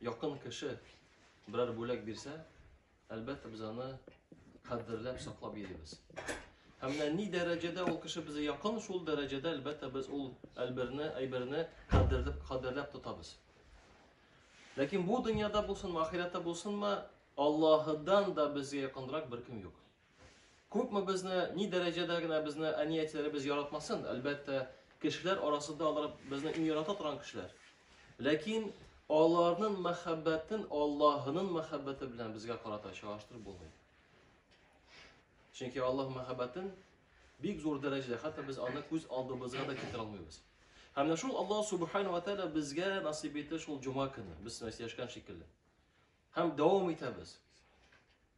Якын кеше берәр бүләк бирсә, әлбәттә без аны кадерләп саклап йөрибез. Һәм менә ни дәрәҗәдә ул кеше безгә якын, шул дәрәҗәдә әлбәттә без ул әлберне, әйберне кадерләп, кадерләп тотабыз. Ләкин бу дөньяда булсынмы, ахирәттә булсынмы, Аллаһыдан да безгә якынрак беркем юк. Күпме безне, ни дәрәҗәдә генә безне әниятиләребез яратмасын, әлбәттә, кешеләр арасында алар безне иң ярата торган кешеләр. Ләкин аларның мәхәббәтен Аллаһының мәхәббәте белән безгә карата чагыштырып булмый. Чөнки Аллаһ мәхәббәтен бик зур дәрәҗәдә, хәтта без аны күз алдыбызга да китерә алмыйбыз. Һәм менә шул Аллаһ субхана ва тәгалә безгә насыйп итте шул җома көне, без яшәгән шикелле. Һәм дәвам итәбез.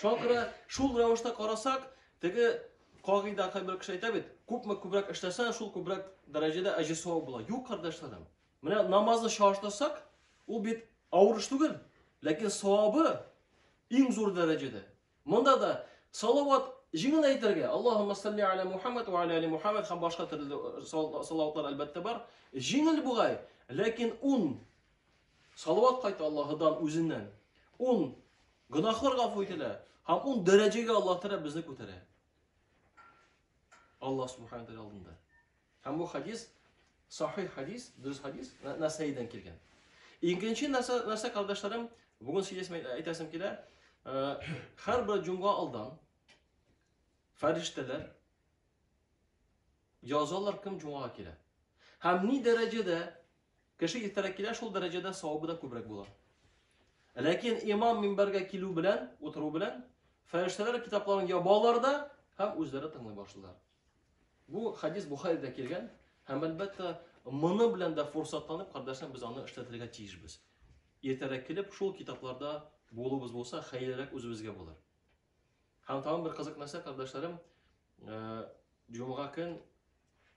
Чакыры шул рәвештә карасак, теге кагыйдә кайбер кеше әйтә бит, күпме күбрәк эшләсә, шул күбрәк дәрәҗәдә әҗер савап була. Юк, кардәшләрем. Менә намазны чагыштырсак, ул бит авыр эш түгел, ләкин савабы иң зур дәрәҗәдә. Монда да салават җиңел әйтергә, Аллаһумма салли аля Мухаммад ва аля али Мухаммад һәм башка төрле э, салаватлар әлбәттә бар. Җиңел бугай, ләкин ун Салават кайта Аллаһыдан үзеннән. Ун гөнаһлар гафу ителә һәм ун дәрәҗәгә Аллаһ Тәгалә безне күтәрә. Аллаһ Субхану Тәгалә алдында. Һәм бу хадис сахих хадис, дөрес хадис, Насаидән килгән. Икенче нәрсә, нәрсә кардәшләрем, бүген сөйләсем әйтәсем килә. Э, һәр бер җомга алдан фәрештәләр язалар кем җомга килә. Һәм ни дәрәҗәдә Кеше иртәрәк килә, шул дәрәҗәдә савабы да күбрәк була. Ләкин имам минбәргә килү белән, утыру белән, фәрештәләр китапларын ябалар да һәм үзләре тыңлый башлыйлар. Бу хадис Бухаридә килгән һәм әлбәттә моны белән дә форсатланып, кардәшләр, без аны эшләтергә тиешбез. Иртәрәк килеп, шул китапларда булуыбыз булса, хәерлерәк үзебезгә булыр. Һәм тагын бер кызык нәрсә, кардәшләрем, э, җомга көн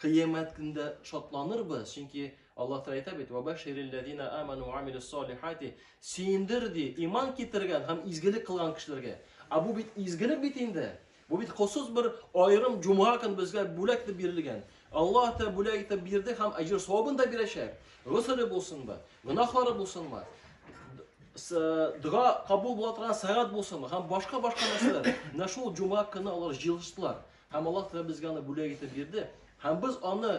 Кыямәт көндә шатланырбыз, чөнки Аллаһ Тәгалә әйтә бит: "Вабаширил ләзина аману ва амилус солихати" Сөендер ди, иман китергән һәм изгелек кылган кешеләргә. Ә бу бит изгелек бит инде. Бу бит хосус бер аерым җомга көн безгә бүләк итеп бирелгән. Аллаһ Тәгалә бүләк итеп бирде һәм әҗер савабын да бирәчәк. Госыле булсынмы, гөнаһлары булсынмы, дога кабул була торган сәгать булсынмы һәм башка-башка нәрсәләр. Менә шул җомга көне алар җыелыштылар. Һәм Аллаһ Тәгалә безгә аны бүләк итеп бирде. Һәм без аны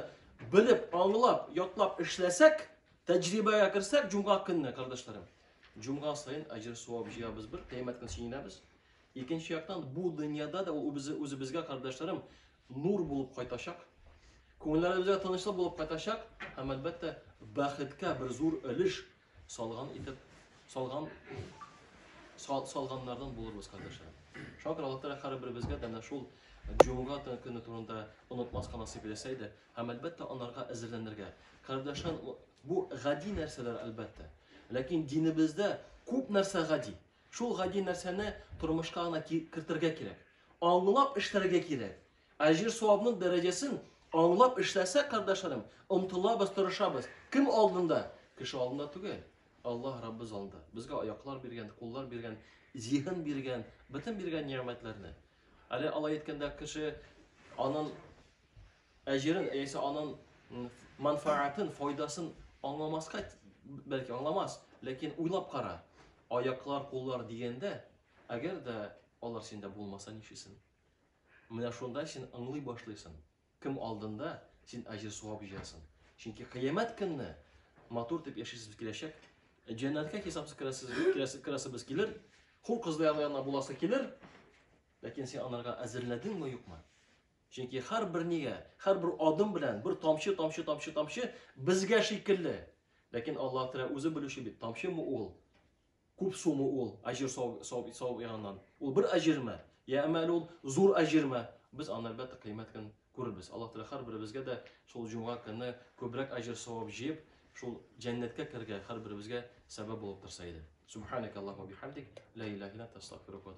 белеп, аңлап, ятлап эшләсәк, тәҗрибәгә керсәк, җомга көнне, кардәшләрем, җомга саен әҗер савап җыябыз бер, кыямәт көн сөенәбез. Икенче яктан, бу дөньяда да ул үзебезгә, кардәшләрем, нур булып кайтачак. Күңелләребезгә тынычлык булып кайтачак һәм әлбәттә бәхеткә бер зур өлеш Салган итеп, салган, сал, салганнардан булырбыз, кардәшләр. Шуңа күрә Аллаһ һәр беребезгә дә шул җомга көне турында онытмаска насыйп итсә иде, һәм әлбәттә анарга әзерләнергә. Кардәшләр, бу гади нәрсәләр әлбәттә. Ләкин динебездә күп нәрсә гади. Шул гади нәрсәне тормышка гына кертергә кирәк. Аңлап эшләргә кирәк. Әҗер-савабның дәрәҗәсен аңлап эшләсәк, кардәшләрем, омтылабыз, тырышабыз. Кем алдында? Кеше алдында түгел. Аллаһ Раббыз алдында. Безгә аяклар биргән, куллар биргән, зиһен биргән, бөтен биргән нигъмәтләрне. Әле алай әйткәндә кеше анын әҗерен, яисә анын манфаатын, файдасын аңламаска бәлки аңламас, ләкин уйлап кара. Аяклар, куллар дигәндә, әгәр дә алар синдә булмаса, ничесен? Менә шунда син аңлый башлыйсын, кем алдында син аҗир суап җыясын. Чөнки кыямәт көнне матур дип яшисез киләчәк. Җәннәткә хисапсыз керәсез, керәсез, керәсез килер. Хур кызлы янына буласы килер. Ләкин син анарга әзерләдеңме юкмы? Чөнки һәр бер нигә, һәр бер адым белән бер тамчы, тамчы, тамчы, тамчы безгә шикелле. Ләкин Аллаһ Тәгалә үзе белүче бит, тамчымы ул? Күп сумы ул, әҗер савап савап ягыннан. Ул бер әҗерме? Я әмма әле ул зур әҗерме? Без аны әлбәттә кыямәт көн күрербез. Аллаһ Тәгалә һәрберебезгә дә шул җомга көнне күбрәк әҗер савап җыеп, шул җәннәткә керергә һәрберебезгә сәбәп булып торса иде. Субханака Аллаһу бихамдик, ла иляха илля анта, астагфирука ва